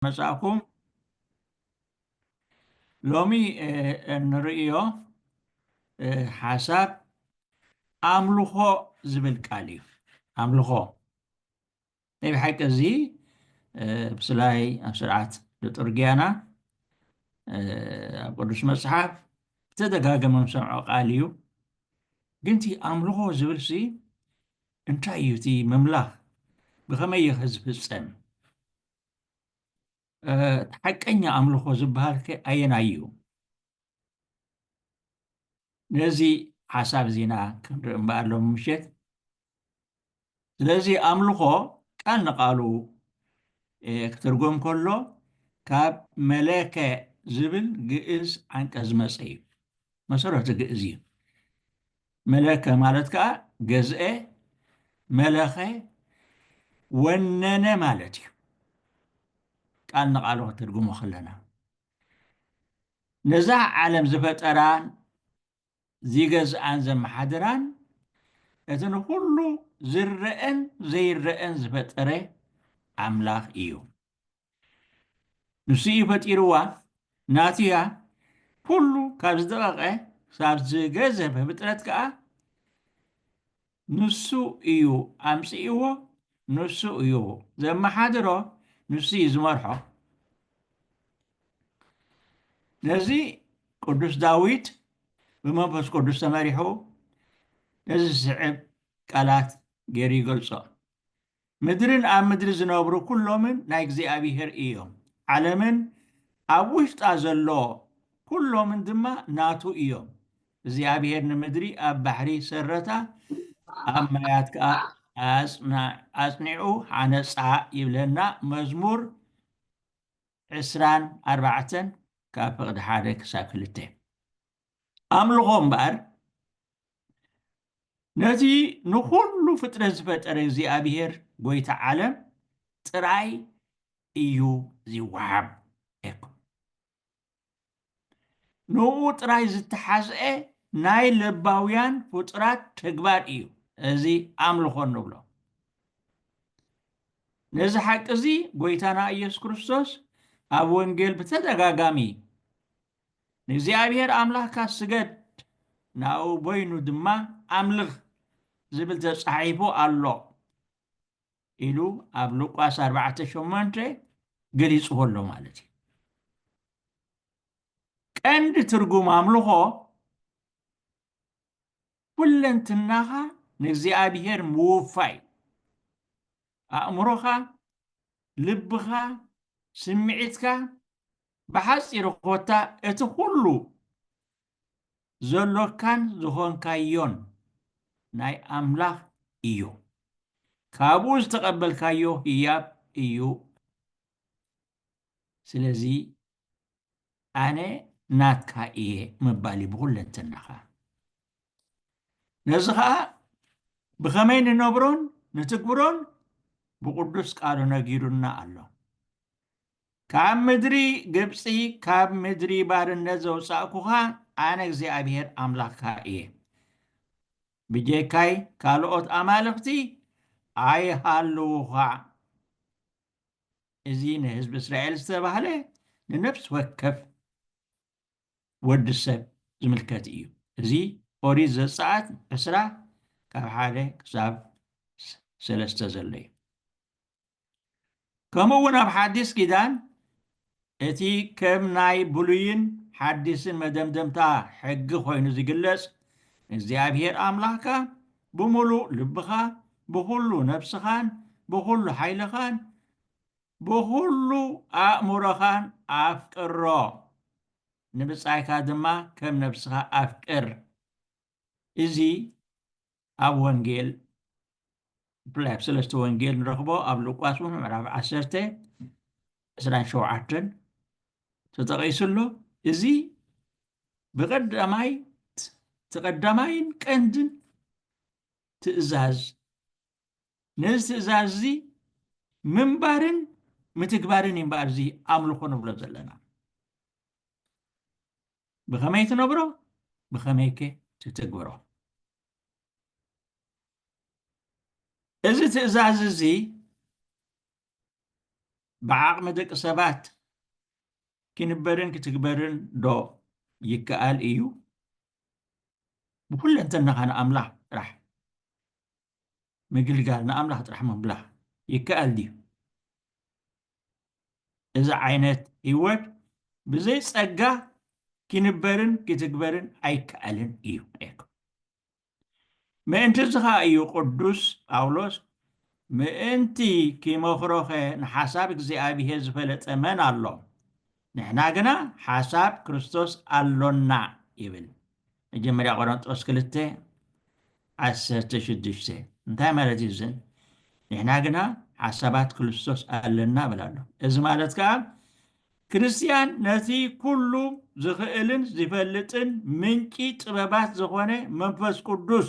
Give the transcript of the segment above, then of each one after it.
መጻእኩም ሎሚ እንርእዮ ሓሳብ ኣምልኾ ዝብል ቃል እዩ ኣምልኾ ናይ ብሓቂ እዚ ብስላይ ኣብ ስርዓት ልጡርጊያና ኣብ ቅዱስ መፅሓፍ ብተደጋገመ ንሰምዖ ቃል እዩ ግን እቲ ኣምልኾ ዝብል ሲ እንታይ እዩ እቲ ምምላኽ ብኸመይ እዩ ዝፍፀም እቲ ሓቀኛ ኣምልኾ ዝበሃልከ ኣየናይ እዩ? ነዚ ሓሳብ እዚ ኢና ክንርኢ እምበኣር ሎሚ ምሸት። ስለዚ ኣምልኾ ቃል ንቃሉ ክትርጎም ከሎ ካብ መለከ ዝብል ግእዝ ዓንቀ ዝመፀ እዩ። መሰረቱ ግእዝ እዩ። መለከ ማለት ከኣ ገዝኤ፣ መለኸ፣ ወነነ ማለት እዩ። ቃል ንቓሉ ክትርጉሞ ከለና ነዛ ዓለም ዝፈጠራን ዚገዝኣን ዘመሓድራን እቲ ንዅሉ ዝረአን ዘይረአን ዝፈጠረ ኣምላኽ እዩ። ንሱ እዩ ፈጢርዋ ናቱ እያ ኩሉ ካብ ዝደቐቐ ሳብ ዝገዘፈ ፍጥረት ከኣ ንሱ እዩ ኣምጺእዎ ንሱ እዩ ዘመሓድሮ ንሱ እዩ ዝመርሖ ነዚ ቅዱስ ዳዊት ብመንፈስ ቅዱስ ተመሪሑ ነዚ ዝስዕብ ቃላት ገይሩ ይገልጾ ምድርን ኣብ ምድሪ ዝነብሩ ኵሎምን ናይ እግዚኣብሄር እዮም፣ ዓለምን ኣብ ውሽጣ ዘሎ ኵሎምን ድማ ናቱ እዮም። እግዚኣብሄር ንምድሪ ኣብ ባሕሪ ሰረታ፣ ኣብ ማያት ከኣ ኣጽኒዑ ሓነጻ ይብለና፣ መዝሙር ዕስራን ኣርባዕተን ካብ ፍቕዲ ሓደ ክሳብ ክልተ። ኣምልኾ እምበኣር ነዚ ንዅሉ ፍጥረት ዝፈጠረ እግዚኣብሄር ጐይታ ዓለም ጥራይ እዩ ዚወሃብ። ኤኮ። ንእኡ ጥራይ ዝተሓዝአ ናይ ለባውያን ፍጡራት ተግባር እዩ እዚ ኣምልኾ እንብሎ። ነዚ ሓቂ እዚ ጐይታና ኢየሱስ ክርስቶስ ኣብ ወንጌል ብተደጋጋሚ ንእግዚኣብሔር ኣምላኽካ ስገድ፣ ንኣኡ በይኑ ድማ ኣምልኽ ዝብል ተጻሒፉ ኣሎ ኢሉ ኣብ ሉቃስ ኣርባዕተ ሸሞንተ ገሊጽዎ ኣሎ ማለት እዩ። ቀንዲ ትርጉም ኣምልኾ ኩለንትናኻ ንእግዚኣብሔር ምውፋይ፣ ኣእምሮኻ፣ ልብኻ፣ ስምዒትካ፣ ብሓጺሩ ኮታ እቲ ኩሉ ዘሎካን ዝኾንካዮን ናይ ኣምላኽ እዩ። ካብኡ ዝተቐበልካዮ ህያብ እዩ። ስለዚ ኣነ ናትካ እየ ምባል እዩ ብኹለንትናኻ። ነዚ ኸኣ ብኸመይ ንነብሮን ንትግብሮን ብቕዱስ ቃሉ ነጊሩና ኣሎ። ካብ ምድሪ ግብጺ ካብ ምድሪ ባርነት ዘውጻእኩኻ ኣነ እግዚኣብሄር ኣምላኽካ እየ። ብጀካይ ካልኦት ኣማልኽቲ ኣይሃልዉኻ። እዚ ንህዝቢ እስራኤል ዝተባህለ ንነፍሲ ወከፍ ወዲ ሰብ ዝምልከት እዩ። እዚ ኦሪት ዘጸኣት ዕስራ ካብ ሓደ ክሳብ ሰለስተ ዘሎ እዩ። ከምኡ እውን ኣብ ሓዲስ ኪዳን እቲ ከም ናይ ብሉይን ሓዲስን መደምደምታ ሕጊ ኮይኑ ዝግለጽ ንእግዚኣብሔር ኣምላኽካ ብምሉእ ልብኻ ብኹሉ ነፍስኻን ብኹሉ ሓይልኻን ብኹሉ ኣእምሮኻን ኣፍቅሮ ንብጻይካ ድማ ከም ነፍስኻ ኣፍቅር እዚ ኣብ ወንጌል ብፍላይ ኣብ ሰለስተ ወንጌል ንረኽቦ ኣብ ሉቃስ እውን ምዕራፍ ዓሰርተ ዕስራን ሸውዓተን ተጠቒሱ ኣሎ እዚ ብቀዳማይ እቲ ቀዳማይን ቀንድን ትእዛዝ ነዚ ትእዛዝ እዚ ምንባርን ምትግባርን እዩ እምበኣር እዚ ኣምልኾ ንብሎ ዘለና ብኸመይ ትነብሮ ብኸመይከ ትትግብሮ እዚ ትእዛዝ እዚ ብዓቕሚ ደቂ ሰባት ክንበርን ክትግበርን ዶ ይከኣል እዩ ብኩለንተናኻ ንኣምላኽ ጥራሕ ምግልጋል ንኣምላኽ ጥራሕ ምምላኽ ይከኣል ድዩ? እዚ ዓይነት ህይወት ብዘይ ጸጋ ኪንበርን ኪትግበርን ኣይከኣልን እዩ ነይሩ። ምእንቲ እዚ ኸኣ እዩ ቅዱስ ጳውሎስ ምእንቲ ኪመኽሮኸ ንሓሳብ እግዚኣብሄር ዝፈለጠ መን ኣሎ? ንሕና ግና ሓሳብ ክርስቶስ ኣሎና ይብል መጀመርያ ቆረንጦስ ክልተ ዓሰርተ ሽዱሽተ እንታይ ማለት እዩ እዚ ንሕና ግና ሓሳባት ክርስቶስ ኣለና ብል ኣሎ እዚ ማለት ከዓ ክርስትያን ነቲ ኩሉ ዝኽእልን ዝፈልጥን ምንጪ ጥበባት ዝኾነ መንፈስ ቅዱስ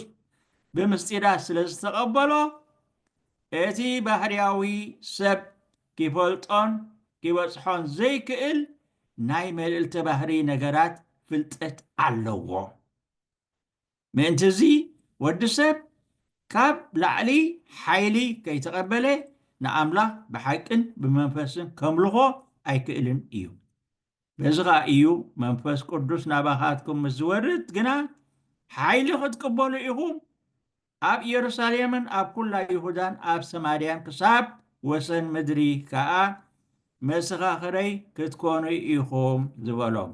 ብምስጢራት ስለ ዝተቐበሎ እቲ ባህርያዊ ሰብ ኪፈልጦን ኪበጽሖን ዘይክእል ናይ መልእልተ ባህርይ ነገራት ፍልጠት ኣለዎ። ምእንት'ዚ ወዲ ሰብ ካብ ላዕሊ ሓይሊ ከይተቐበለ ንኣምላኽ ብሓቅን ብመንፈስን ከምልኾ ኣይክእልን እዩ። በዚ ኸኣ እዩ መንፈስ ቅዱስ ናባኻትኩም ምስ ዝወርድ ግና ሓይሊ ክትቅበሉ ኢኹም ኣብ ኢየሩሳሌምን ኣብ ኵላ ይሁዳን ኣብ ሰማርያን ክሳብ ወሰን ምድሪ ከኣ መሰኻኽረይ ክትኰኑ ኢኹም ዝበሎም።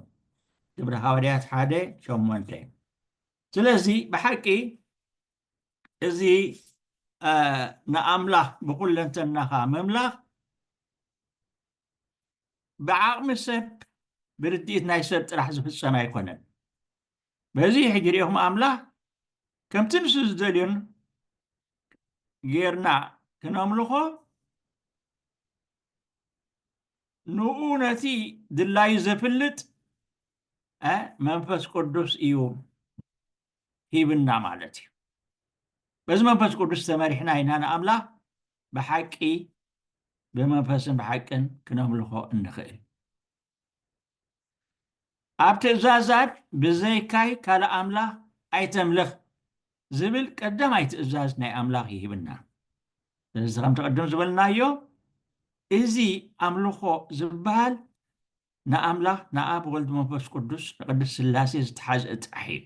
ግብሪ ሃዋርያት ሓደ ሸሞንተ ስለዚ ብሓቂ እዚ ንኣምላኽ ብዅለንተናኻ ምምላኽ ብዓቕሚ ሰብ ብርድኢት ናይ ሰብ ጥራሕ ዝፍጸም ኣይኮነን። በዚ ሕጂ ሪኢኹም ኣምላኽ ከምቲ ንሱ ዝደልዮን ጌርና ክነምልኾ ንኡ ነቲ ድላዩ ዘፍልጥ መንፈስ ቅዱስ እዩ ሂብና ማለት እዩ በዚ መንፈስ ቅዱስ ተመሪሕና ኢና ንኣምላኽ ብሓቂ ብመንፈስን ብሓቅን ክነምልኾ እንኽእል ኣብ ትእዛዛት ብዘይካይ ካልእ ኣምላኽ ኣይተምልኽ ዝብል ቀዳማይ ትእዛዝ ናይ ኣምላኽ ይህብና። ስለዚ ከምቲ ቅድም ዝበልናዮ እዚ ኣምልኾ ዝበሃል ንኣምላኽ ንኣብ ወልድ መንፈስ ቅዱስ ንቅድስ ስላሴ ዝተሓዝአ ጥራሕ እዩ።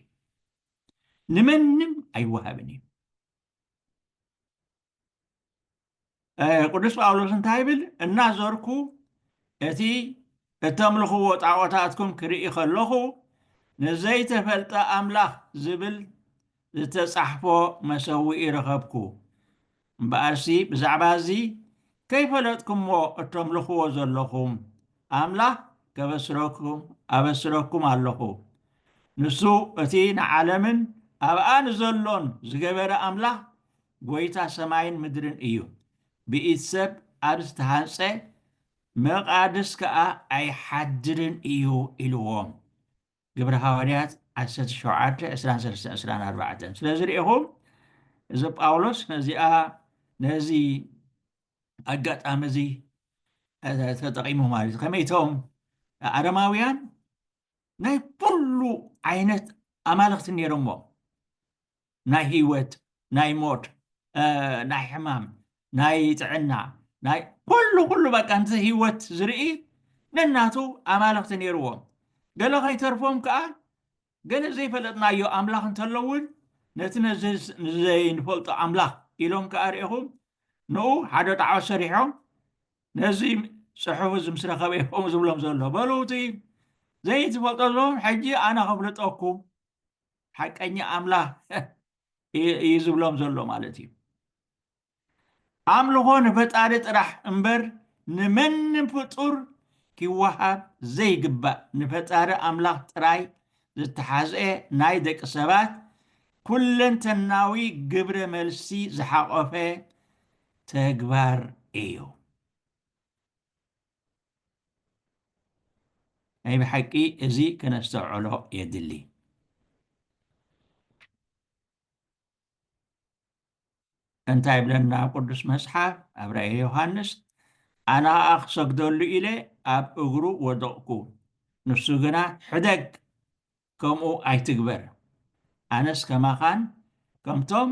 ንመንም ኣይወሃብን እዩ። ቅዱስ ጳውሎስ እንታይ ይብል እናዞርኩ እቲ እተምልኽዎ ጣዖታትኩም ክርኢ ከለኹ ንዘይተፈልጠ ኣምላኽ ዝብል ዝተጻሕፎ መሰውኢ ረኸብኩ እምበኣርሲ ብዛዕባ እዚ ከይፈለጥኩሞ እተምልኽዎ ዘለኹም ኣምላኽ ከበስረኩም ኣበስረኩም ኣለኹ ንሱ እቲ ንዓለምን ኣብኣ ንዘሎን ዝገበረ ኣምላኽ ጐይታ ሰማይን ምድርን እዩ፣ ብኢድ ሰብ ኣብ ዝተሃንጸ መቓድስ ከኣ ኣይሓድርን እዩ ኢልዎም። ግብሪ ሃዋርያት ዓሰርተ ሸውዓተ፣ ዕስራን ሰለስተን፣ ዕስራን ኣርባዕተን። ስለዚ ርኢኹም፣ እዚ ጳውሎስ ነዚኣ ነዚ ኣጋጣሚ እዚ ተጠቒሙ ማለት እዩ። ከመይ እቶም ኣረማውያን ናይ ኩሉ ዓይነት ኣማልኽቲ ነይሮሞ ናይ ህይወት ናይ ሞት ናይ ሕማም ናይ ጥዕና ናይ ኩሉ ኩሉ በቃ ንቲ ህይወት ዝርኢ ነናቱ ኣማልኽቲ ነይርዎም ገለ ከይተርፎም ከዓ ገለ ዘይፈለጥናዮ ኣምላኽ እንተሎ እውን ነቲ ንዘይንፈልጦ ኣምላኽ ኢሎም ከዓ ርኢኹም ንኡ ሓደ ጣዖት ሰሪሖም ነዙይ ፅሑፍ እዚ ምስ ረኸበ እዩ ከምኡ ዝብሎም ዘሎ በሉ እቲ ዘይትፈልጦ ዝብሎም ሕጂ ኣነ ከፍልጠኩም ሓቀኛ ኣምላኽ እዩ ዝብሎም ዘሎ ማለት እዩ ኣምልኾ ንፈጣሪ ጥራሕ እምበር ንመንም ፍጡር ኪወሃብ ዘይግባእ ንፈጣሪ ኣምላኽ ጥራይ ዝተሓዝአ ናይ ደቂ ሰባት ኩለንተናዊ ግብረ መልሲ ዝሓቆፈ ተግባር እዩ። ናይ ብሓቂ እዚ ከነስተውዕሎ የድሊ። እንታይ ይብለና ቅዱስ መጽሓፍ ኣብ ራእየ ዮሃንስ ኣነ ኸኣ ክሰግደሉ ኢለ ኣብ እግሩ ወደቕኩ ንሱ ግና ሕደግ ከምኡ ኣይትግበር። ኣነስ ከማኻን ከምቶም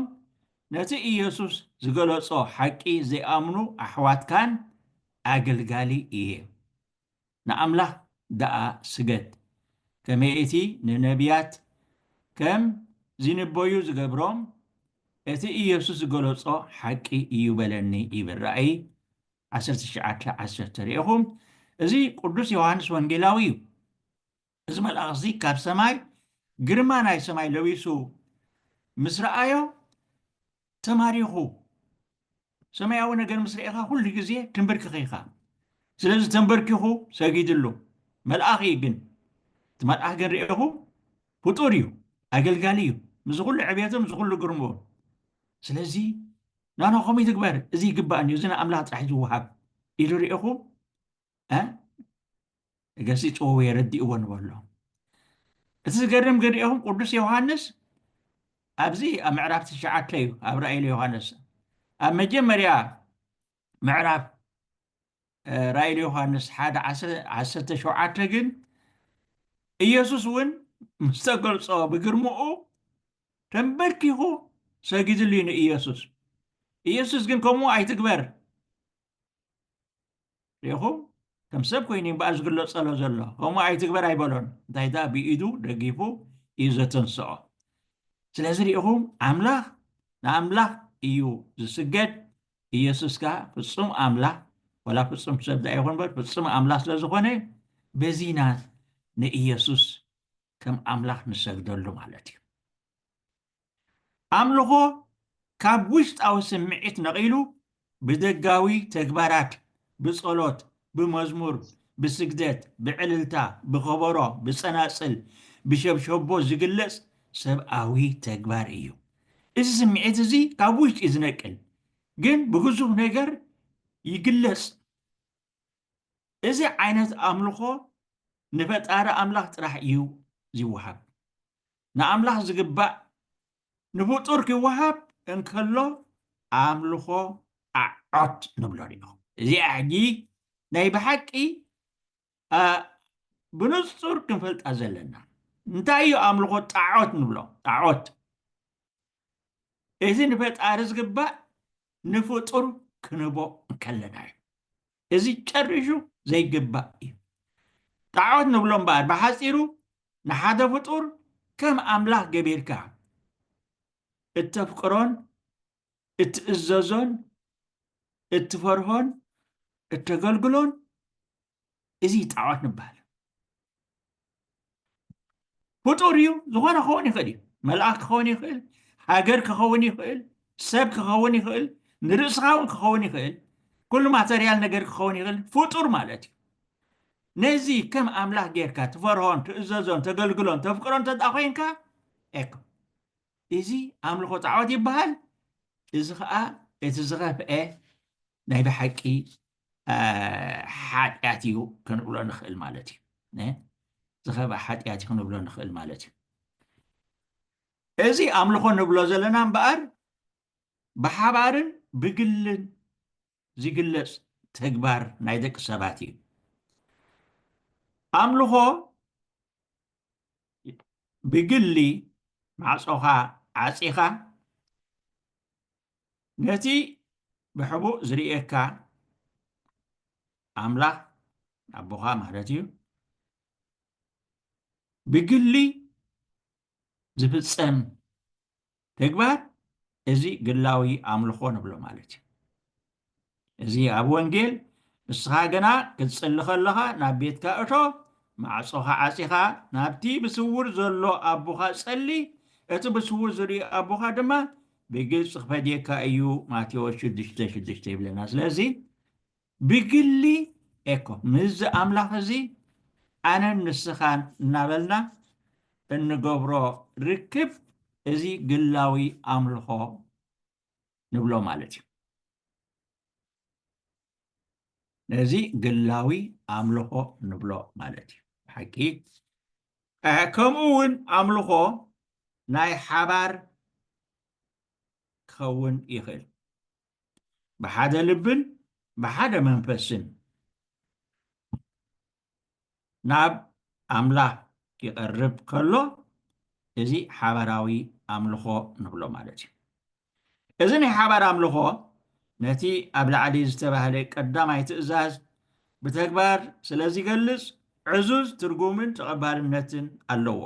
ነቲ ኢየሱስ ዝገለጾ ሓቂ ዘይኣምኑ ኣሕዋትካን ኣገልጋሊ እየ። ንኣምላኽ ደኣ ስገድ። ከመይ እቲ ንነብያት ከም ዚንበዩ ዝገብሮም፣ እቲ ኢየሱስ ዝገለጾ ሓቂ እዩ በለኒ ይብል ራእይ ዓሰርተ ትሽዓተ ዓሰርተ። ርኤኹም፣ እዚ ቅዱስ ዮሃንስ ወንጌላዊ እዩ። እዚ መልኣኽዚ ካብ ሰማይ ግርማ ናይ ሰማይ ለቢሱ ምስ ረኣዮ ተማሪኹ ሰማያዊ ነገር ምስ ርኢኻ ኩሉ ግዜ ትንብርክኽ ኢኻ ስለዚ ተንበርኪኹ ሰጊድሉ መልኣኽ እዩ ግን እቲ መልኣኽ ግን ርኢኹ ፍጡር እዩ ኣገልጋሊ እዩ ምስ ኩሉ ዕብየቱ ምስ ኩሉ ግርምኡ ስለዚ ናና ከምኡ ይትግበር እዚ ይግባእኒ እዚ ንኣምላኽ ጥራሕ ዝወሃብ ኢሉ ርኢኹ ገሲጽዎ ወይ ኣረዲእዎ ንበሎ እቲ ዝገርም ግን ሪኦም ቅዱስ ዮሃንስ ኣብዚ ኣብ ምዕራፍ ትሽዓተ እዩ ኣብ ራእይ ዮሃንስ ኣብ መጀመርያ ምዕራፍ ራእይ ዮሃንስ ሓደ ዓሰርተ ሸውዓተ ግን ኢየሱስ እውን ምስ ተገልጾ ብግርምኡ ተንበርኪኹ ሰጊድሉ እዩ ንኢየሱስ ኢየሱስ ግን ከምኡ ኣይትግበር ሪኢኹም ከም ሰብ ኮይኑ እምበኣር ዝግለጸሎ ዘሎ ከምኡ ኣይትግበር ኣይበሎን እንታይ ደኣ ብኢዱ ደጊፉ እዩ ዘተንስኦ ስለዚ ሪኢኹም ኣምላኽ ንኣምላኽ እዩ ዝስገድ ኢየሱስ ከዓ ፍጹም ኣምላኽ ወላ ፍጹም ሰብ ደኣ ይኹን በር ፍጹም ኣምላኽ ስለ ዝኾነ በዚ ኢና ንኢየሱስ ከም ኣምላኽ ንሰግደሉ ማለት እዩ ኣምልኾ ካብ ውሽጣዊ ስምዒት ነቒሉ ብደጋዊ ተግባራት፣ ብጸሎት፣ ብመዝሙር፣ ብስግደት፣ ብዕልልታ፣ ብኸበሮ፣ ብጸናጽል፣ ብሸብሸቦ ዝግለጽ ሰብኣዊ ተግባር እዩ። እዚ ስምዒት እዚ ካብ ውሽጢ እዩ ዝነቅል፣ ግን ብግዙፍ ነገር ይግለጽ። እዚ ዓይነት ኣምልኾ ንፈጣሪ ኣምላኽ ጥራሕ እዩ ዝወሃብ። ንኣምላኽ ዝግባእ ንፍጡር ኪወሃብ እንከሎ ኣምልኾ ኣዖት ንብሎ ኒኦ። እዚኣ ሕጂ ናይ ብሓቂ ብንጹር ክንፈልጣ ዘለና እንታይ እዩ ኣምልኾ ጣዖት ንብሎ ጣዖት እዚ ንፈጣሪ ዝግባእ ንፍጡር ክንቦ እንከለና እዩ እዚ ጨሪሹ ዘይግባእ እዩ። ጣዖት ንብሎ እምበኣር ብሓጺሩ ንሓደ ፍጡር ከም ኣምላኽ ገቢርካ እተፍቅሮን እትእዘዞን እትፈርሆን እተገልግሎን እዚ ጣዖት ንበሃል። ፍጡር እዩ ዝኾነ ክኸውን ይኽእል እዩ መልኣኽ ክኸውን ይኽእል ሃገር ክኸውን ይኽእል ሰብ ክኸውን ይኽእል ንርእስኻ እውን ክኸውን ይኽእል ኩሉ ማተርያል ነገር ክኸውን ይኽእል ፍጡር ማለት እዩ ነዚ ከም ኣምላኽ ጌርካ ትፈርሆን ትእዘዞን ተገልግሎን ተፍቅሮ እንተ ኮንካ ኤኮ እዚ ኣምልኾ ጣዖት ይበሃል እዚ ከዓ እቲ ዝኸፍአ ናይ ብሓቂ ሓጢኣት እዩ ክንብሎ ንኽእል ማለት እዩ ዝኸበ ሓጢኣት እዩ ክንብሎ ንኽእል ማለት እዩ እዚ ኣምልኾ ንብሎ ዘለና እምበኣር ብሓባርን ብግልን ዝግለፅ ተግባር ናይ ደቂ ሰባት እዩ ኣምልኾ ብግሊ ማዕፆኻ ዓፂኻ ነቲ ብሕቡእ ዝርእየካ ኣምላኽ ኣቦኻ ማለት እዩ ብግሊ ዝፍፀም ተግባር እዚ ግላዊ ኣምልኾ ንብሎ ማለት እዩ እዚ ኣብ ወንጌል ንስኻ ግና ክትጽሊ ከለኻ ናብ ቤትካ እቶ፣ ማዕጾኻ ዓጺኻ ናብቲ ብስውር ዘሎ ኣቦኻ ጸሊ፣ እቲ ብስውር ዝርኢ ኣቦኻ ድማ ብግልጺ ክፈድየካ እዩ ማቴዎስ ሽዱሽተ ሽዱሽተ ይብለና። ስለዚ ብግሊ ኤኮ ምስዚ ኣምላኽ እዚ ኣነን ንስኻን እናበልና እንገብሮ ርክብ እዚ ግላዊ ኣምልኾ ንብሎ ማለት እዩ። ነዚ ግላዊ ኣምልኾ ንብሎ ማለት እዩ ሓቂ ከምኡ እውን ኣምልኾ ናይ ሓባር ክኸውን ይኽእል ብሓደ ልብን ብሓደ መንፈስን ናብ ኣምላኽ ኪቐርብ ከሎ፣ እዚ ሓባራዊ ኣምልኾ ንብሎ ማለት እዩ። እዚ ናይ ሓባር ኣምልኾ ነቲ ኣብ ላዕሊ ዝተባህለ ቀዳማይ ትእዛዝ ብተግባር ስለ ዚገልጽ፣ ዕዙዝ ትርጉምን ተቐባልነትን ኣለዎ።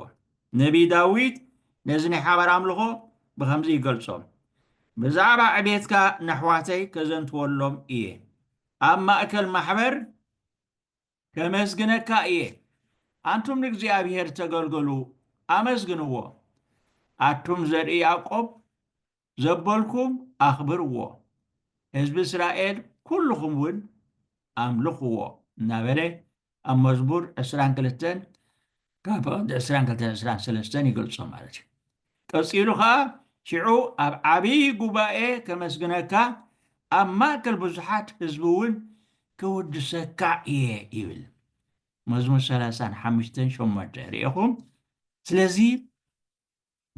ነብዪ ዳዊት ነዚ ናይ ሓባር ኣምልኾ ብኸምዚ ይገልጾ፣ ብዛዕባ ዕቤትካ ነሕዋተይ ከዘንትወሎም እየ፣ ኣብ ማእከል ማሕበር ከመስግነካ እየ ኣንቱም ንእግዚኣብሔር ተገልገሉ ኣመስግንዎ ኣቱም ዘርኢ ያዕቆብ ዘበልኩም ኣኽብርዎ ህዝቢ እስራኤል ኩልኹም እውን ኣምልኽዎ እናበለ ኣብ መዝሙር ዕስራን ክልተን ካብ ፈቐዲ ዕስራን ክልተን ዕስራን ሰለስተን ይገልጾ ማለት እዩ። ቀጺሉ ኸኣ ሽዑ ኣብ ዓብዪ ጉባኤ ከመስግነካ፣ ኣብ ማእከል ብዙሓት ህዝቢ እውን ክውድሰካ እየ ይብል። መዝሙር ሰላሳን ሓምሽተን ሸሞንተ ርኤኹም። ስለዚ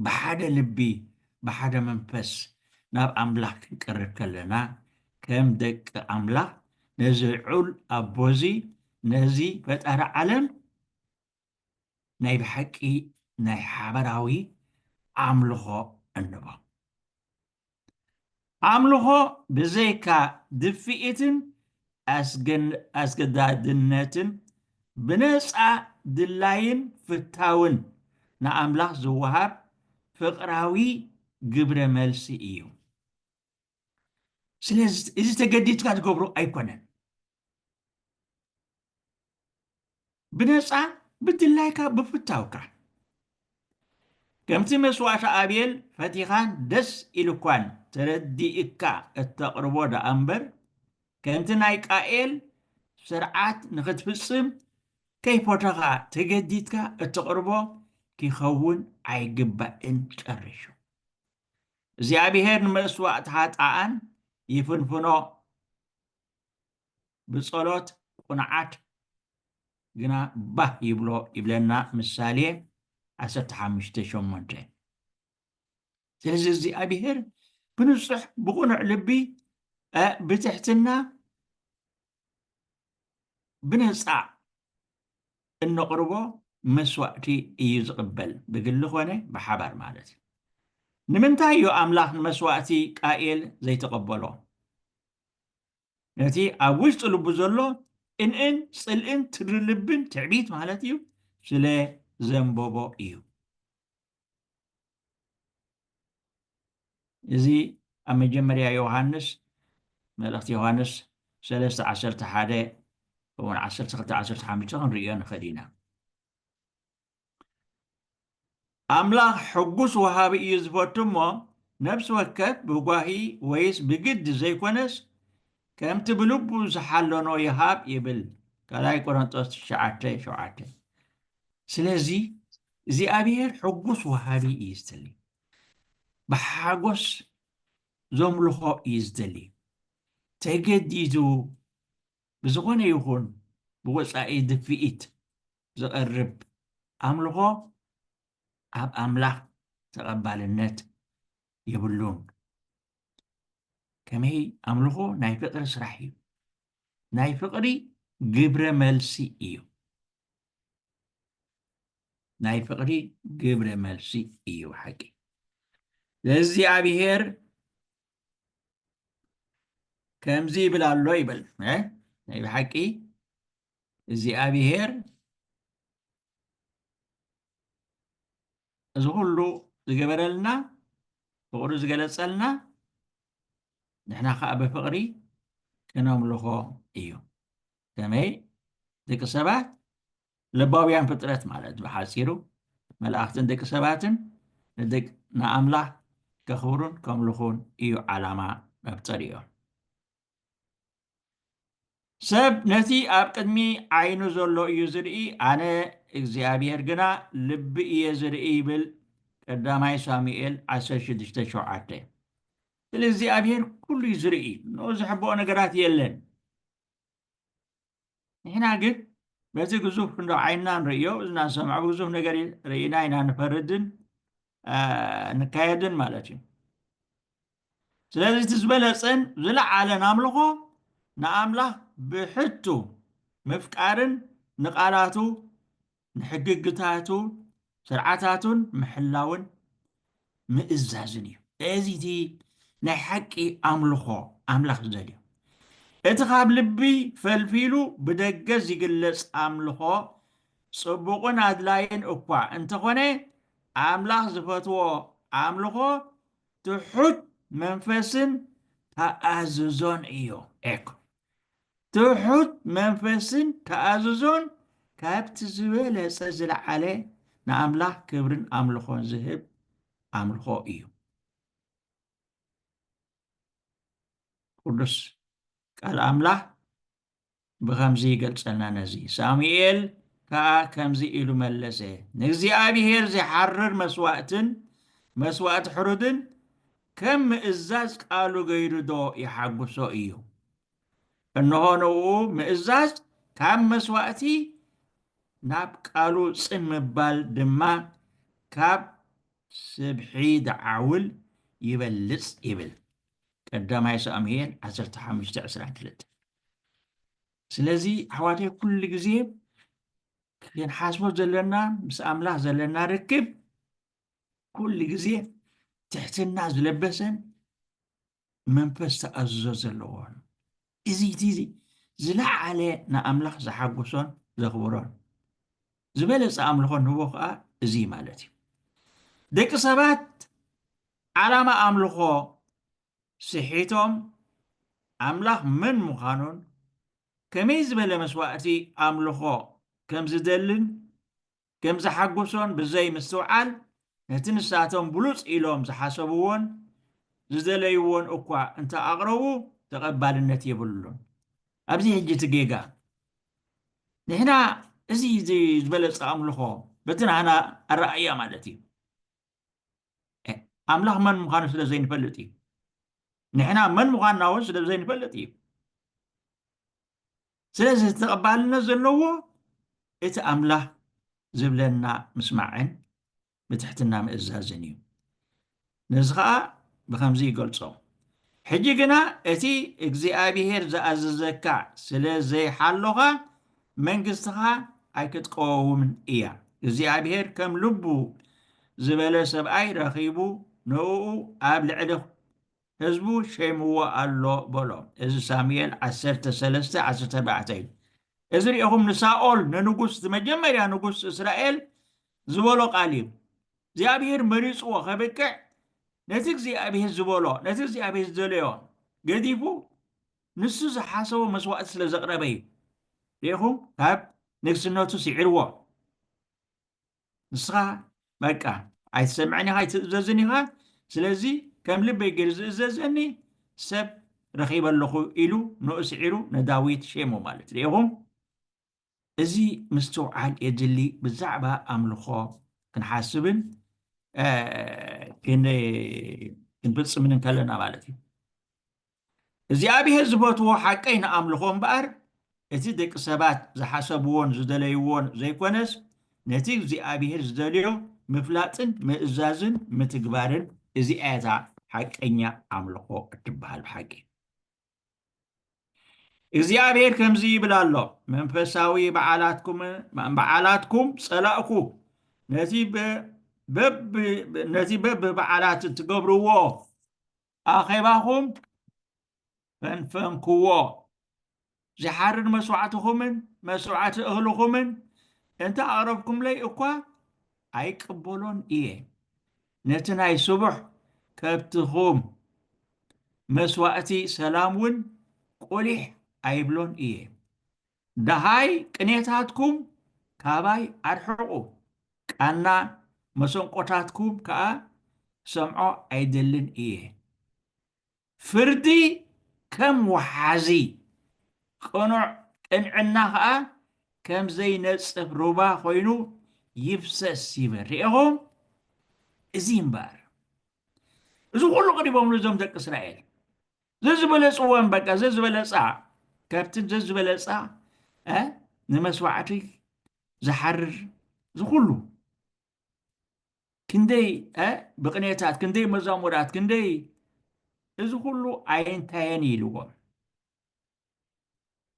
ብሓደ ልቢ ብሓደ መንፈስ ናብ ኣምላኽ ክንቀርብ ከለና ከም ደቂ ኣምላኽ ነዚ ዑል ኣቦ እዚ ነዚ ፈጣሪ ዓለም ናይ ብሓቂ ናይ ሓበራዊ ኣምልኾ እንቦ። ኣምልኾ ብዘይካ ድፍኢትን ኣስገዳድነትን ብነጻ ድላይን ፍታውን ንኣምላኽ ዝወሃብ ፍቕራዊ ግብረ መልሲ እዩ። ስለዚ እዚ ተገዲድካ ትገብሮ ኣይኮነን። ብነጻ ብድላይካ ብፍታውካ ከምቲ መስዋእቲ ኣቤል ፈቲኻን ደስ ኢሉኳን ተረዲእካ እተቕርቦ ደኣ እምበር ከምቲ ናይ ቃኤል ስርዓት ንኽትፍጽም ከይፎተኻ ተገዲድካ እተቕርቦ ኪኸውን ኣይግባእን። ጨሪሹ እግዚኣብሄር ንመስዋእቲ ኃጥኣን ይፍንፍኖ ብጸሎት ቁንዓት ግና ባህ ይብሎ ይብለና ምሳሌ ዓሰርተ ሓሙሽተ ሸሞንተ ስለዚ እግዚኣብሔር ብንጹሕ ብቑኑዕ ልቢ ብትሕትና ብነፃ እንቕርቦ መስዋእቲ እዩ ዝቕበል ብግሊ ኮነ ብሓባር ማለት እዩ ንምንታይ እዩ ኣምላኽ ንመስዋእቲ ቃኤል ዘይተቐበሎ ነቲ ኣብ ውሽጢ ልቡ ዘሎ ቅንእን ጽልእን ትሪ ልብን ትዕቢት ማለት እዩ ስለ ዘንበቦ እዩ እዚ ኣብ መጀመርያ ዮሃንስ መልእኽቲ ዮሃንስ 3 11 እውን 12 15 ክንሪኦ ንኽእል ኢና ኣምላኽ ሕጉስ ወሃቢ እዩ ዝፈቱ እሞ ነፍሲ ወከፍ ብጓሂ ወይስ ብግዲ ዘይኮነስ ከምቲ ብልቡ ዝሓለኖ ይሃብ ይብል ካልኣይ ቆሮንጦስ ትሽዓተ ሸውዓተ ስለዚ እግዚኣብሔር ሕጉስ ወሃቢ እዩ ዝደሊ ብሓጎስ ዘምልኾ እዩ ዝደሊ ተገዲዱ ብዝኾነ ይኹን ብወጻኢ ድፍኢት ዝቐርብ ኣምልኾ ኣብ ኣምላኽ ተቐባልነት የብሉን። ከመይ ኣምልኾ ናይ ፍቕሪ ስራሕ እዩ። ናይ ፍቕሪ ግብረ መልሲ እዩ። ናይ ፍቕሪ ግብረ መልሲ እዩ ሓቂ ለእግዚኣብሔር ከምዚ ይብል ኣሎ ይብል ናይ ብሓቂ እግዚኣብሄር እዚ ኩሉ ዝገበረልና ፍቕሩ ዝገለፀልና ንሕና ከዓ ብፍቕሪ ከነምልኾ እዩ ከመይ ደቂ ሰባት ለባውያን ፍጥረት ማለት ብሓፂሩ መላእኽትን ደቂ ሰባትን ንኣምላኽ ከኽብሩን ከምልኹን እዩ ዓላማ መፍጠሪኦም ሰብ ነቲ ኣብ ቅድሚ ዓይኑ ዘሎ እዩ ዝርኢ ኣነ እግዚኣብሔር ግና ልቢ እየ ዝርኢ ይብል ቀዳማይ ሳሙኤል 16:7 ስለ እግዚኣብሔር ኩሉ እዩ ዝርኢ ንኡ ዝሕብኦ ነገራት የለን ንሕና ግን በዚ ግዙፍ እንዶ ዓይንና ንርእዮ እዝና ንሰምዖ ብግዙፍ ነገር ርኢና ኢና ንፈርድን ንካየድን ማለት እዩ ስለዚ እቲ ዝበለፅን ዝለዓለን ኣምልኾ ንኣምላኽ ብሕቱ ምፍቃርን ንቓላቱ ንሕግግታቱ ስርዓታቱን ምሕላውን ምእዛዝን እዩ። እዚ እቲ ናይ ሓቂ ኣምልኾ ኣምላኽ ዝደልዮ እቲ ካብ ልቢ ፈልፊሉ ብደገ ዝግለጽ ኣምልኾ ጽቡቕን ኣድላይን እኳ እንተኾነ ኣምላኽ ዝፈትዎ ኣምልኾ ትሑት መንፈስን ተኣዝዞን እዩ። ኤክ ትሑት መንፈስን ተኣዝዞን ካብቲ ዝበለጸ ዝለዓለ ንኣምላኽ ክብርን ኣምልኾን ዝህብ ኣምልኾ እዩ። ቅዱስ ቃል ኣምላኽ ብኸምዚ ይገልጸልና ነዚ ሳሙኤል ከኣ ከምዚ ኢሉ መለሰ ንእግዚኣብሔር ዚሓርር መስዋእትን መስዋእቲ ሕሩድን ከም ምእዛዝ ቃሉ ገይሩዶ ይሓጉሶ ኢዩ? እንሆ ንእኡ ምእዛዝ ካብ መስዋእቲ ናብ ቃሉ ጽን ምባል ድማ ካብ ስብሒ ደዓውል ይበልጽ ይብል ቀዳማይ ሳሙኤል ዓሰርተ ሓሙሽተ ዕስራን ክልተን። ስለዚ ኣሕዋተይ ኩሉ ግዜ ክንሓስቦ ዘለና ምስ ኣምላኽ ዘለና ርክብ ኩሉ ግዜ ትሕትና ዝለበሰን መንፈስ ተኣዝዞ ዘለዎን እዚ እቲ እዚ ዝለዓለ ንኣምላኽ ዝሓጎሶን ዘኽብሮን ዝበለፀ ኣምልኾ ንህቦ ከዓ እዚ ማለት እዩ ደቂ ሰባት ዓላማ ኣምልኾ ስሒቶም ኣምላኽ መን ምዃኑን ከመይ ዝበለ መስዋእቲ ኣምልኾ ከም ዝደልን ከም ዘሓጎሶን ብዘይ ምስትውዓል ነቲ ንሳቶም ብሉጽ ኢሎም ዝሓሰብዎን ዝደለይዎን እኳ እንተ ኣቕረቡ ተቐባልነት የብሉን። ኣብዚ ሕጂ እቲ ጌጋ ንሕና እዚ ዝበለጸ ኣምልኾ በቲ ናህና ኣረኣእያ ማለት እዩ። ኣምላኽ መን ምዃኑ ስለ ዘይንፈልጥ እዩ ንሕና መን ምዃንና እውን ስለ ዘይንፈልጥ እዩ ስለዚ ተቐባልነት ዘለዎ እቲ ኣምላኽ ዝብለና ምስማዕን ብትሕትና ምእዛዝን እዩ ነዚ ከዓ ብከምዚ ይገልጾ ሕጂ ግና እቲ እግዚኣብሄር ዝኣዘዘካ ስለ ዘይሓሎኻ መንግስትኻ ኣይክትቀወውምን እያ። እግዚኣብሄር ከም ልቡ ዝበለ ሰብኣይ ረኺቡ ንእኡ ኣብ ልዕሊ ህዝቡ ሸይምዎ ኣሎ በሎ። እዚ ሳሙኤል ዓሰርተ ሰለስተ ዓሰርተ ኣርባዕተ እዩ። እዚ ርኢኹም ንሳኦል ንንጉስ እቲ መጀመርያ ንጉስ እስራኤል ዝበሎ ቃል እዩ። እግዚኣብሄር መሪጽዎ ከብቅዕ ነቲ እግዚኣብሄር ዝበሎ ነቲ እግዚኣብሄር ዝደለዮ ገዲፉ ንሱ ዝሓሰቦ መስዋእቲ ስለ ዘቕረበ እዩ ርኢኹም ካብ ንግስነቱ ስዒርዎ ንስኻ በቃ ኣይትሰምዕን ኢኻ ኣይትእዘዝን ኢኻ ስለዚ ከም ልበይ ገይሩ ዝእዘዘኒ ሰብ ረኺበ ኣለኹ ኢሉ ንኡ ስዒሩ ንዳዊት ሸሞ ማለት ርኢኹም እዚ ምስትውዓል የድሊ ብዛዕባ ኣምልኾ ክንሓስብን ክንፍጽምን እንከለና ማለት እዩ እግዚኣብሔር ዝፈትዎ ሓቀይ ንኣምልኾ እምበኣር እቲ ደቂ ሰባት ዝሓሰብዎን ዝደለይዎን ዘይኮነስ ነቲ እግዚኣብሔር ዝደልዮ ምፍላጥን ምእዛዝን ምትግባርን እዚኣታ ሓቀኛ ኣምልኾ እትበሃል ብሓቂ እግዚኣብሔር ከምዚ ይብል ኣሎ መንፈሳዊ በዓላትኩም በዓላትኩም ጸላእኩ ነዚ በ- በብ- ነዚ በብበዓላት እትገብርዎ ኣኼባኹም ፈንፈንክዎ ዝሓርድ መስዋዕትኹምን መስዋዕቲ እኽልኹምን እንተ ኣቕረብኩምለይ እኳ ኣይቅበሎን እየ ነቲ ናይ ስቡሕ ከብትኹም መስዋእቲ ሰላም ውን ቁሊሕ ኣይብሎን እየ። ደሃይ ቅኔታትኩም ካባይ ኣርሕቑ፣ ቃና መሰንቆታትኩም ከኣ ክሰምዖ ኣይደልን እየ። ፍርዲ ከም ወሓዚ፣ ቅኑዕ ቅንዕና ኸኣ ከም ዘይነጽፍ ሩባ ዀይኑ ይፍሰስ ይብል። ርኤኹም? እዚ እዩ እምበኣር እዚ ዅሉ ቐሪቦምሉ እዞም ደቂ እስራኤል ዘዝበለጽወን በቃ ዘዝበለጻ ከብትን ዘዝበለጻ ንመስዋዕቲ ዝሓርር ዝኹሉ ክንደይ ብቕኔታት፣ ክንደይ መዛሙራት፣ ክንደይ እዚ ኩሉ ኣይንታየን እዩ ኢልዎም።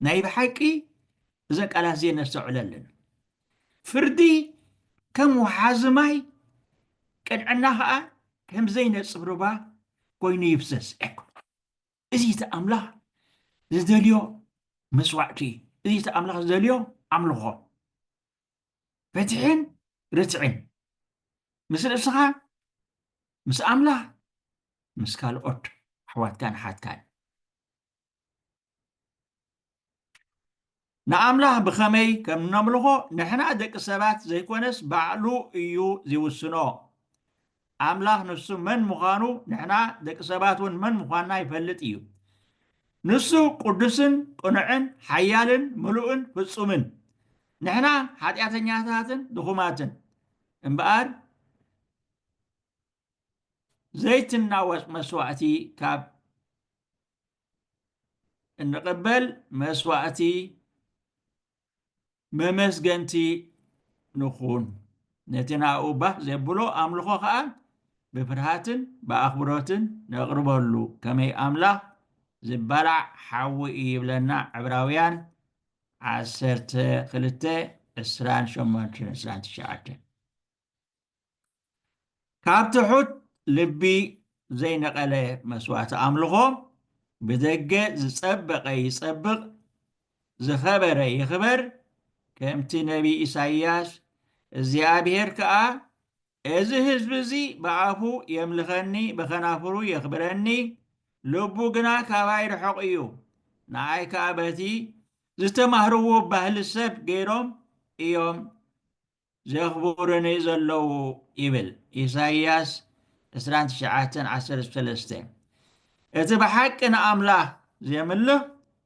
ናይ ብሓቂ እዘን ቃላት እዚኤን ነስተውዕለለን። ፍርዲ ከም ወሓዚ ማይ፣ ቅንዕና ኸዓ ከም ዘይነጽፍ ሩባ ኮይኑ ይፍሰስ። እዚ እቲ ኣምላኽ ዝደልዮ መስዋዕቲ፣ እዚ እቲ ኣምላኽ ዝደልዮ ኣምልኾ። ፍትሕን ርትዕን ምስ ርእስኻ ምስ ኣምላኽ ምስ ካልኦት ኣሕዋትካን ኣሓትካን ንኣምላኽ ብኸመይ ከም እነምልኾ ንሕና ደቂ ሰባት ዘይኮነስ ባዕሉ እዩ ዝውስኖ ኣምላኽ ንሱ መን ምዃኑ ንሕና ደቂ ሰባት እውን መን ምዃንና ይፈልጥ እዩ። ንሱ ቅዱስን ቅኑዕን ሓያልን ምሉእን ፍጹምን፣ ንሕና ሓጢኣተኛታትን ድኹማትን እምበኣር ዘይትናወጽ መስዋእቲ ካብ እንቕበል መስዋእቲ መመስገንቲ ንኹን፣ ነቲ ንኣኡ ባህ ዜብሎ ኣምልኾ ኸኣ ብፍርሃትን ብኣኽብሮትን ነቕርበሉ፣ ከመይ ኣምላኽ ዚባላዕ ሓዊ እዩ ይብለና ዕብራውያን ዓሰርተ ክልተ ዕስራን ሸሞንተን ዕስራን ትሽዓተን። ካብ ትሑት ልቢ ዘይነቐለ መስዋእቲ ኣምልኾ ብደገ ዝጸበቐ ይጸብቕ ዝኸበረ ይኽበር ከምቲ ነቢይ ኢሳይያስ እግዚኣብሔር ከኣ እዚ ህዝቢ እዚ ብኣፉ የምልኸኒ ብኸናፍሩ የኽብረኒ ልቡ ግና ካባይ ርሑቕ እዩ ንኣይ ከኣ በቲ ዝተማህርዎ ባህሊ ሰብ ገይሮም እዮም ዘኽቡሩኒ ዘለዉ ይብል ኢሳይያስ ዕስራን ትሽዓተን ዓሰርተ ሰለስተ። እቲ ብሓቂ ንኣምላኽ ዜምልኽ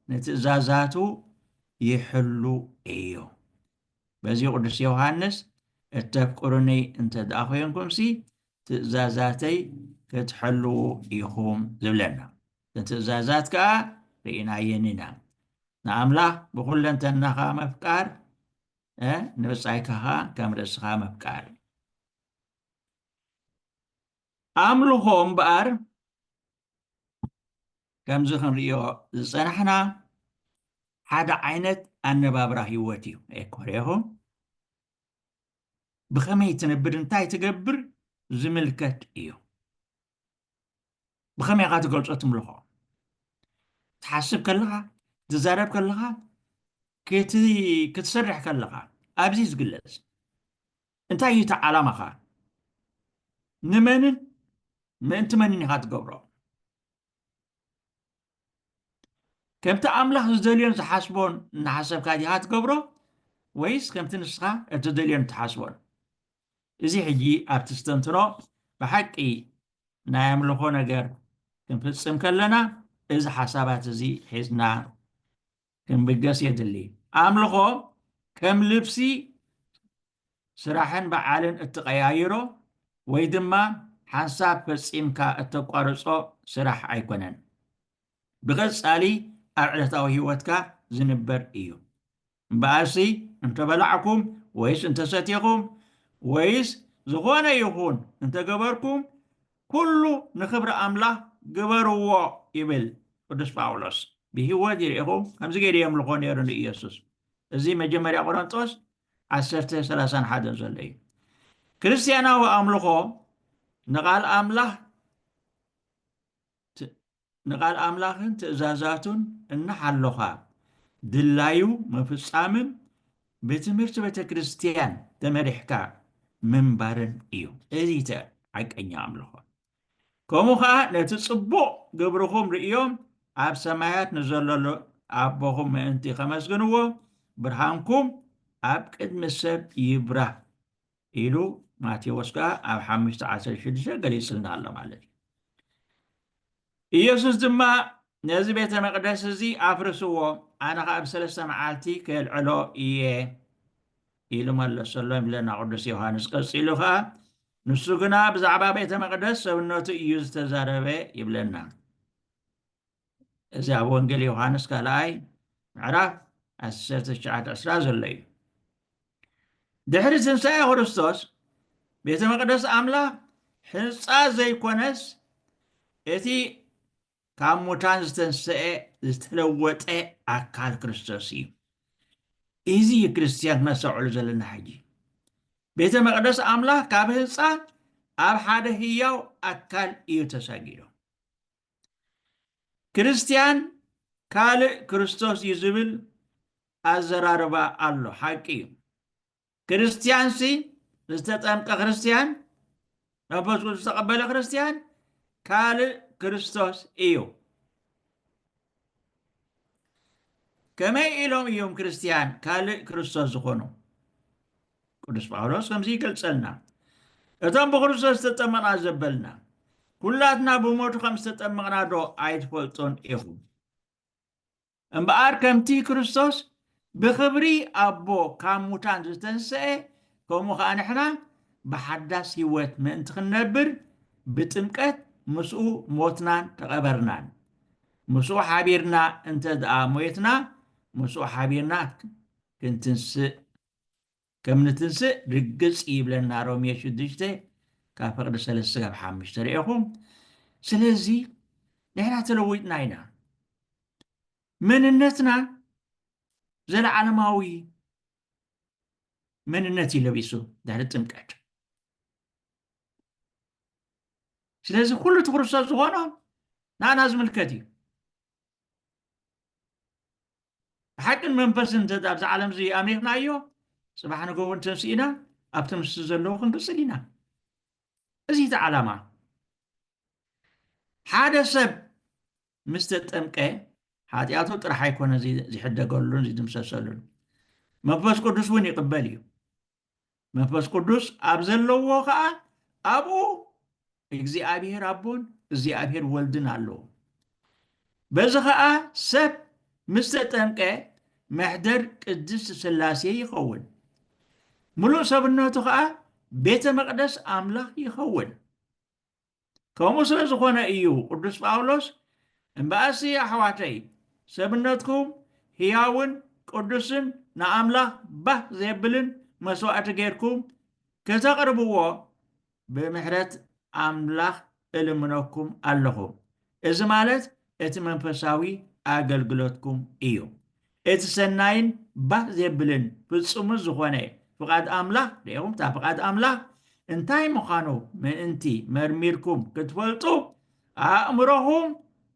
ንትእዛዛቱ ይሕሉ እዩ። በዚ ቅዱስ ዮሃንስ እተፍቅሩኒ እንተ ደኣ ዄንኩምሲ ትእዛዛተይ ክትሕልዉ ኢኹም ዝብለና። ንትእዛዛት ከኣ ርኢናየን ኢና። ንኣምላኽ ብዅለንተናኻ ምፍቃር ንብጻይካ ኸኣ ከም ርእስኻ ምፍቃር እዩ። ኣምልኾ እምበኣር ከምዚ ክንርእዮ ዝጸናሕና ሓደ ዓይነት ኣነባብራ ህይወት እዩ። ኤኮሬኹ ብኸመይ ትነብር እንታይ ትገብር ዝምልከት እዩ። ብኸመይ ኢኻ ትገልጾ እቲ ምልኾ ትሓስብ ከለኻ ትዛረብ ከለኻ ክትሰርሕ ከለኻ ኣብዚ ዝግለጽ እንታይ እዩ እቲ ዓላማኻ ንመንን ምእንቲ መንን ኢኻ ትገብሮ ከምቲ ኣምላኽ ዝደልዮን ዝሓስቦን እናሓሰብካ ዲኻ ትገብሮ ወይስ ከምቲ ንስኻ እትደልዮን እትሓስቦን? እዚ ሕጂ ኣብቲ ዝተንትኖ ብሓቂ ናይ ኣምልኾ ነገር ክንፍጽም ከለና እዚ ሓሳባት እዚ ሒዝና ክንብገስ የድሊ። ኣምልኾ ከም ልብሲ ስራሕን በዓልን እትቐያይሮ ወይ ድማ ሓንሳብ ፈጺምካ እተቋርጾ ስራሕ ኣይኮነን። ብቐጻሊ ኣብ ዕለታዊ ህይወትካ ዝንበር እዩ። እምበኣርሲ እንተ በላዕኩም ወይስ እንተ ሰቴኹም ወይስ ዝኾነ ይኹን እንተ ገበርኩም ኩሉ ንክብሪ ኣምላኽ ግበርዎ ይብል ቅዱስ ጳውሎስ። ብህይወት ይርኢኹ ከምዚ ገይሩ የምልኾ ነይሩ ንኢየሱስ። እዚ መጀመርያ ቆሮንጦስ ዓሰርተ ሰላሳን ሓደን ዘሎ እዩ። ክርስትያናዊ ኣምልኾ ንቓል ኣምላኽ ንቃል ኣምላኽን ትእዛዛቱን እናሓሎኻ ድላዩ ምፍጻምን ብትምህርቲ ቤተ ክርስቲያን ተመሪሕካ ምንባርን እዩ እዚ እተ ሓቀኛ ኣምልኾ። ከምኡ ኸኣ ነቲ ጽቡቕ ግብርኹም ርእዮም ኣብ ሰማያት ንዘለሎ ኣቦኹም ምእንቲ ኸመስግንዎ ብርሃንኩም ኣብ ቅድሚ ሰብ ይብራህ ኢሉ ማቴዎስ ከኣ ኣብ ሓሙሽተ ዓሰርተ ሽዱሽተ ገሊጹልና ኣሎ ማለት እዩ ኢየሱስ ድማ ነዚ ቤተ መቅደስ እዚ ኣፍርስዎ ኣነ ከዓ ኣብ ሰለስተ መዓልቲ ከልዕሎ እየ ኢሉ መለሰሎ ይብለና ቅዱስ ዮሃንስ ቀፂሉ ከዓ ንሱ ግና ብዛዕባ ቤተ መቅደስ ሰብነቱ እዩ ዝተዛረበ ይብለና እዚ ኣብ ወንጌል ዮሃንስ ካልኣይ ምዕራፍ ዓሰርተ ትሽዓተ ዕስራ ዘሎ እዩ ድሕሪ ትንሳኤ ክርስቶስ ቤተ መቅደስ ኣምላኽ ሕንፃ ዘይኮነስ እቲ ካብ ሙታን ዝተንሰኤ ዝተለወጠ ኣካል ክርስቶስ እዩ እዚ እዩ ክርስትያን ክነስተውዕሉ ዘለና ሕጂ ቤተ መቅደስ ኣምላኽ ካብ ህንፃ ኣብ ሓደ ህያው ኣካል እዩ ተሳጊሩ ክርስትያን ካልእ ክርስቶስ እዩ ዝብል ኣዘራርባ ኣሎ፣ ሓቂ እዩ። ክርስትያንሲ ዝተጠምቀ ክርስትያን መንፈስ ቅዱስ ዝተቐበለ ክርስትያን ካልእ ክርስቶስ እዩ። ከመይ ኢሎም እዮም ክርስትያን ካልእ ክርስቶስ ዝኾኑ? ቅዱስ ጳውሎስ ከምዚ ይገልጸልና እቶም ብክርስቶስ ዝተጠመቕና ዘበልና ኩላትና ብሞቱ ከም ዝተጠመቕና ዶ ኣይትፈልጡን ኢኹም እምበኣር ከምቲ ክርስቶስ ብክብሪ ኣቦ ካብ ሙታን ዝተንስአ ከምኡ ከዓ ንሕና ብሓዳስ ህይወት ምእንቲ ክንነብር ብጥምቀት ምስኡ ሞትናን ተቐበርናን ምስኡ ሓቢርና እንተ ደኣ ሞየትና ምስኡ ሓቢርና ክንትንስእ ከም ንትንስእ ርግጽ እዩ ይብለና ሮሜ ሽዱሽተ ካብ ፍቕዲ ሰለስተ ስጋብ ሓምሽተ ርኤኹም ስለዚ ንሕና ተለዊጥና ኢና መንነትና ዘለዓለማዊ መንነት እዩ ለቢሱ ድሕሪ ጥምቀት ስለዚ ኩሉ እቲ ክርስቶስ ዝኾኖ ንኣና ዝምልከት እዩ ብሓቅን መንፈስን እንተ ኣብዚ ዓለም እዚ ኣሚርናዮ ፅባሕ ንግሆ እውን ተንስኢና ኣብቲ ምስ ዘለዎ ክንቅፅል ኢና እዚ እቲ ዓላማ ሓደ ሰብ ምስ ተጠምቀ ሓጢኣቱ ጥራሕ ኣይኮነ ዝሕደገሉን ዝድምሰሰሉን መንፈስ ቅዱስ እውን ይቕበል እዩ መንፈስ ቅዱስ ኣብ ዘለዎ ከኣ ኣብኡ እግዚኣብሔር ኣቦን እግዚኣብሔር ወልድን ኣለዉ በዚ ከኣ ሰብ ምስ ተጠምቀ መሕደር ቅድስት ስላሴ ይኸውን ምሉእ ሰብነቱ ከኣ ቤተ መቅደስ ኣምላኽ ይኸውን ከምኡ ስለ ዝኾነ ኢዩ ቅዱስ ጳውሎስ እምበኣሲ ኣሕዋተይ ሰብነትኩም ህያውን ቅዱስን ንኣምላኽ ባህ ዜብልን መስዋእቲ ጌርኩም ከተቕርብዎ ብምሕረት ኣምላኽ እልምነኩም ኣለኹ። እዚ ማለት እቲ መንፈሳዊ ኣገልግሎትኩም እዩ። እቲ ሰናይን ባህ ዜብልን ፍጹምን ዝዀነ ፍቓድ ኣምላኽ፣ ደይኹም እታ ፍቓድ ኣምላኽ እንታይ ምዃኑ ምእንቲ መርሚርኩም ክትፈልጡ፣ ኣእምሮኹም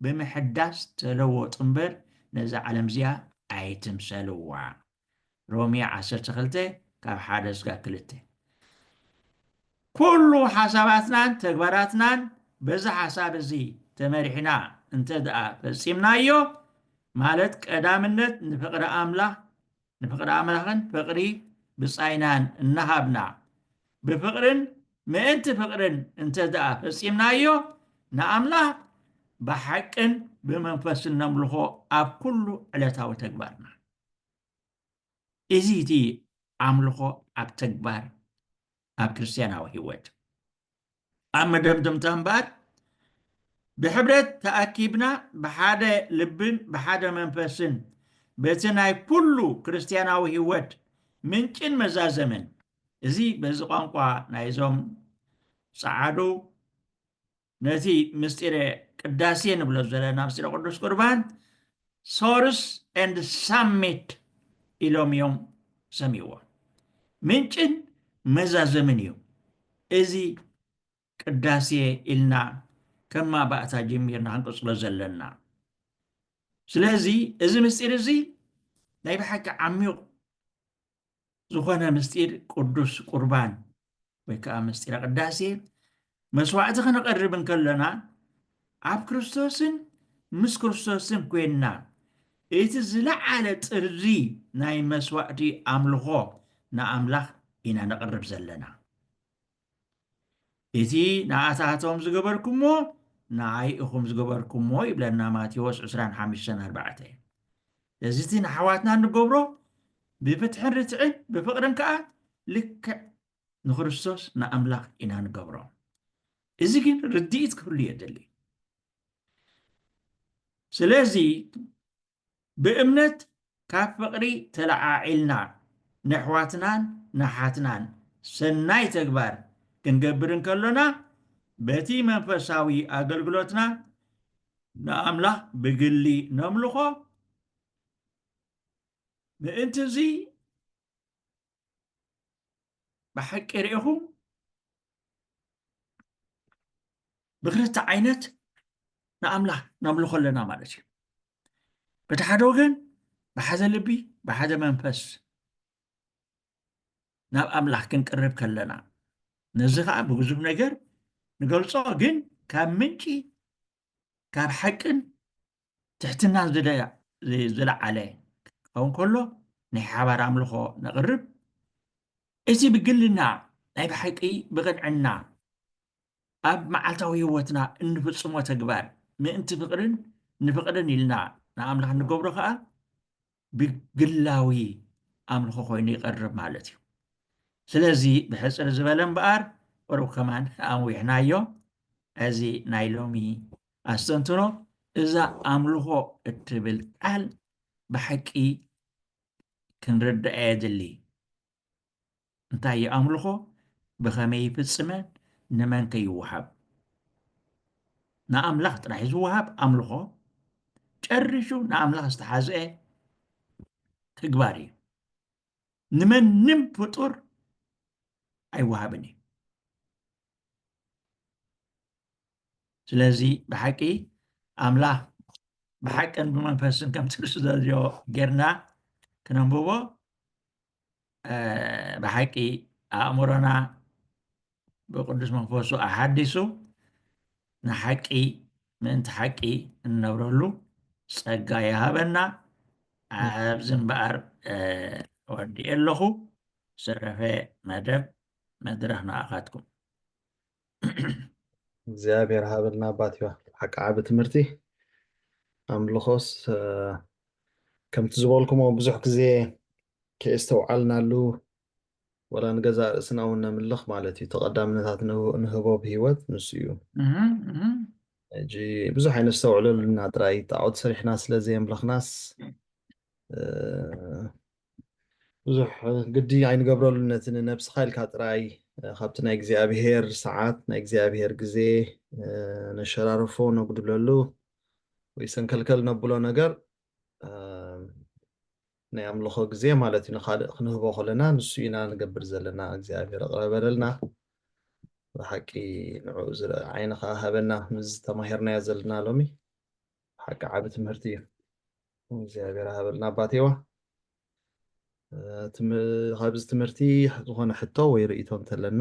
ብምሕዳስ ተለወጡ እምበር፣ ነዛ ዓለም እዚኣ ኣይትምሰልዋ። ሮሜ ዓሰርተ ክልተ ካብ ሓደ ስጋብ ክልተ ኩሉ ሓሳባትናን ተግባራትናን በዚ ሓሳብ እዚ ተመሪሕና እንተ ደኣ ፈጺምናዮ ማለት ቀዳምነት ንፍቕሪ ኣምላኽ ንፍቕሪ ኣምላኽን ፍቕሪ ብጻይናን እናሃብና ብፍቕርን ምእንቲ ፍቕርን እንተ ደኣ ፈጺምናዮ ንኣምላኽ ብሓቅን ብመንፈስን ነምልኾ ኣብ ኩሉ ዕለታዊ ተግባርና እዚ እቲ ኣምልኾ ኣብ ተግባር ኣብ ክርስትያናዊ ህይወት ኣብ መደምደምታ እምበኣር ብሕብረት ተኣኪብና ብሓደ ልብን ብሓደ መንፈስን በቲ ናይ ኩሉ ክርስትያናዊ ህይወት ምንጭን መዛዘምን እዚ በዚ ቋንቋ ናይዞም ጸዓዱ ነቲ ምስጢረ ቅዳሴ ንብሎ ዘለና ምስጢረ ቅዱስ ቁርባን ሶርስ ኤንድ ሳሚት ኢሎም እዮም ሰሚዎ ምንጭን መዛዘምን እዩ እዚ ቅዳሴ ኢልና ከም ማባእታ ጀሚርና ክንቅፅሎ ዘለና ስለዚ እዚ ምስጢር እዚ ናይ ብሓቂ ዓሚቕ ዝኾነ ምስጢር ቅዱስ ቁርባን ወይ ከዓ ምስጢረ ቅዳሴ መስዋዕቲ ክንቐርብ እንከለና ኣብ ክርስቶስን ምስ ክርስቶስን ኮይንና እቲ ዝለዓለ ጥሪ ናይ መስዋዕቲ ኣምልኾ ንኣምላኽ ኢና ነቕርብ ዘለና እቲ ንኣታቶም ዝገበርኩሞ ንዓይ ኢኹም ዝገበርኩሞ ይብለና ማቴዎስ ዕስራን ሓምሽተን ኣርባዕተ እዚ እቲ ንኣሕዋትና እንገብሮ ብፍትሕን ርትዕን ብፍቕርን ከዓ ልክዕ ንክርስቶስ ንኣምላኽ ኢና ንገብሮ እዚ ግን ርድኢት ክህሉ የድሊ ስለዚ ብእምነት ካብ ፍቕሪ ተለዓዒልና ነሕዋትናን ንኣሓትናን ሰናይ ተግባር ክንገብር እንከሎና በቲ መንፈሳዊ ኣገልግሎትና ንኣምላኽ ብግሊ ነምልኾ። ምእንትዚ ብሓቂ ርኢኹም ብክልተ ዓይነት ንኣምላኽ ነምልኾ ኣለና ማለት እዩ በቲ ሓደ ወገን ብሓደ ልቢ ብሓደ መንፈስ ናብ ኣምላኽ ክንቅርብ ከለና ነዚ ከዓ ብብዙብ ነገር ንገልፆ ግን ካብ ምንጪ ካብ ሓቅን ትሕትናን ዝለዓለ ክኸውን ከሎ ናይ ሓባር ኣምልኾ ነቕርብ። እቲ ብግልና ናይ ብሓቂ ብቕንዕና ኣብ መዓልታዊ ህይወትና እንፍጽሞ ተግባር ምእንቲ ፍቕርን ንፍቕርን ኢልና ንኣምላኽ ንገብሮ ኸኣ ብግላዊ ኣምልኾ ኮይኑ ይቐርብ ማለት እዩ ስለዚ ብሕፅር ዝበለ እምበኣር ቅሩብ ከማን ኣንዊሕናዮ እዚ ናይ ሎሚ ኣስተንትኖ እዛ ኣምልኾ እትብል ቃል ብሓቂ ክንርዳእ የድሊ እንታይ እዩ ኣምልኾ? ብኸመይ ይፍጽመ? ንመንከ ይወሃብ? ንኣምላኽ ጥራሕ ዝወሃብ ኣምልኾ ጨሪሹ ንኣምላኽ ዝተሓዝአ ተግባር እዩ። ንመንም ፍጡር ኣይወሃብን እዩ። ስለዚ ብሓቂ ኣምላኽ ብሓቅን ብመንፈስን ከምቲ ዝደልዮ ጌርና ክነንብቦ ብሓቂ ኣእምሮና ብቅዱስ መንፈሱ ኣሓዲሱ ንሓቂ ምእንቲ ሓቂ እንነብረሉ ጸጋ ይሃበና ኣብዚ እምበኣር ወዲኤ ኣለኹ ዝተረፈ መደብ መድረኽ ንኣኻትኩም እግዚኣብሔር ሃበልና ኣባትዮዋ ብሓቂ ዓቢ ትምህርቲ ኣምልኾስ ከምቲ ዝበልኩሞ ብዙሕ ግዜ ከየስተውዓልናሉ ወላ ንገዛእ ርእስና እውን ነምልኽ ማለት እዩ ተቐዳምነታት ንህቦ ብሂወት ንሱ እዩ ሕጂ ብዙሕ ኣይነስተውዕለሉና ጥራይ ጣዖት ሰሪሕና ስለ ዘየምለኽናስ ብዙሕ ግዲ ኣይንገብረሉን ነቲ ንነብስኻ ኢልካ ጥራይ ካብቲ ናይ እግዚኣብሄር ሰዓት ናይ እግዚኣብሄር ግዜ ነሸራርፎ ነጉድለሉ ወይ ሰንከልከል ነብሎ ነገር ናይ ኣምልኾ ግዜ ማለት እዩ ንካልእ ክንህቦ ከለና ንሱ ኢና ንገብር ዘለና እግዚኣብሔር ኣቕረበለልና ብሓቂ ንዕኡ ዝርኢ ዓይኒ ከዓ ሃበና ምስ ተማሂርናዮ ዘለና ሎሚ ብሓቂ ዓብ ትምህርቲ እዩ እግዚኣብሔር ሃበልና ኣባቴዋ ካብዚ ትምህርቲ ዝኾነ ሕቶ ወይ ርእቶ እንተለና